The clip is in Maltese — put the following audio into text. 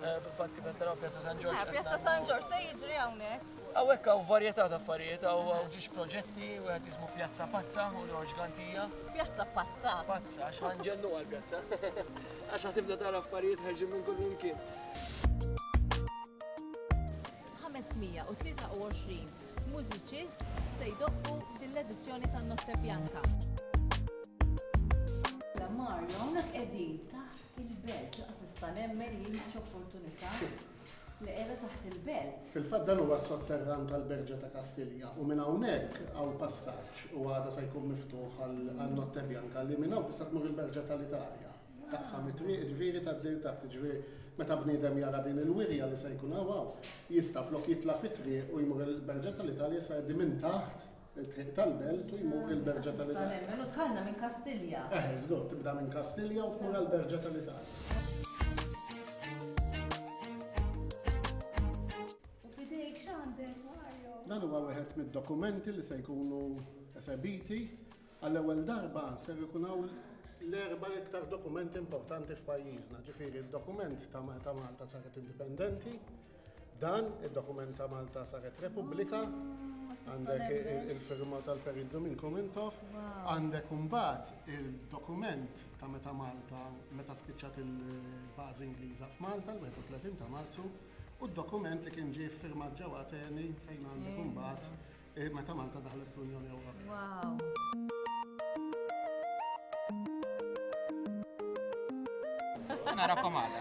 Fil-fatt kif qed taraw Pjazza San Ġorġ. Eh, Pjazza San Ġorġ se jiġri hawnhekk. Hawnhekk hawn varjetà ta' affarijiet, hawn ġiex proġetti wieħed jismu Pjazza Pazza u Ġorġ Gantija. Pjazza Pazza. Pazza, għax ħanġennu għal pjazza. Għax ħatibda tara affarijiet ħarġin minn kull imkien. 523 Mużiċist se jdoqqu f'din l-edizzjoni tan-Notte Bianca. Mario, hawnhekk qegħdin taħt il-belt, laqas nista' nemmen li mhix opportunità li qiegħda taħt il-belt. Fil-fatt dan huwa sotterran tal-Berġa ta' Kastilja u minn hawnhekk hawn passaġġ u għada se jkun miftuħ għal Notte Bianca li minn hawn tista' tmur il-Berġa tal-Italja. taqsam it-triq, jiġifieri tgħaddi l taħt, jiġifieri meta bniedem jara din il-wirja li se jkun hawn, jista' flok jitla' fit-triq u jmur il-Berġa tal-Italja se jgħaddi minn taħt il-triq tal-Belt u jmur il-Berġa tal-Italja. Mela tħallna minn Kastilja. Eh, żgur, tibda minn Kastilja u tmur għall-Berġa tal-Italja. U fidejk x'għandek, Mario? Dan huwa wieħed mid-dokumenti li se jkunu esebiti Għall-ewwel darba ser ikun hawn l-erba' iktar dokumenti importanti f'pajjiżna, ġifieri d-dokument ta' meta Malta saret indipendenti, dan id-dokument ta' Malta saret Repubblika, għandek il-firma tal-Perit Domin Komintov, għandek imbagħad il-dokument ta' meta Malta meta spiċċat il-bażi Ingliża f'Malta l-31 ta' Marzu u d-dokument li kien ġie ffirmat ġewwa Ateni fejn għandek imbagħad Eh, meta Malta daħlet fl-Unjoni Ewropea. Wow. Narakom għada.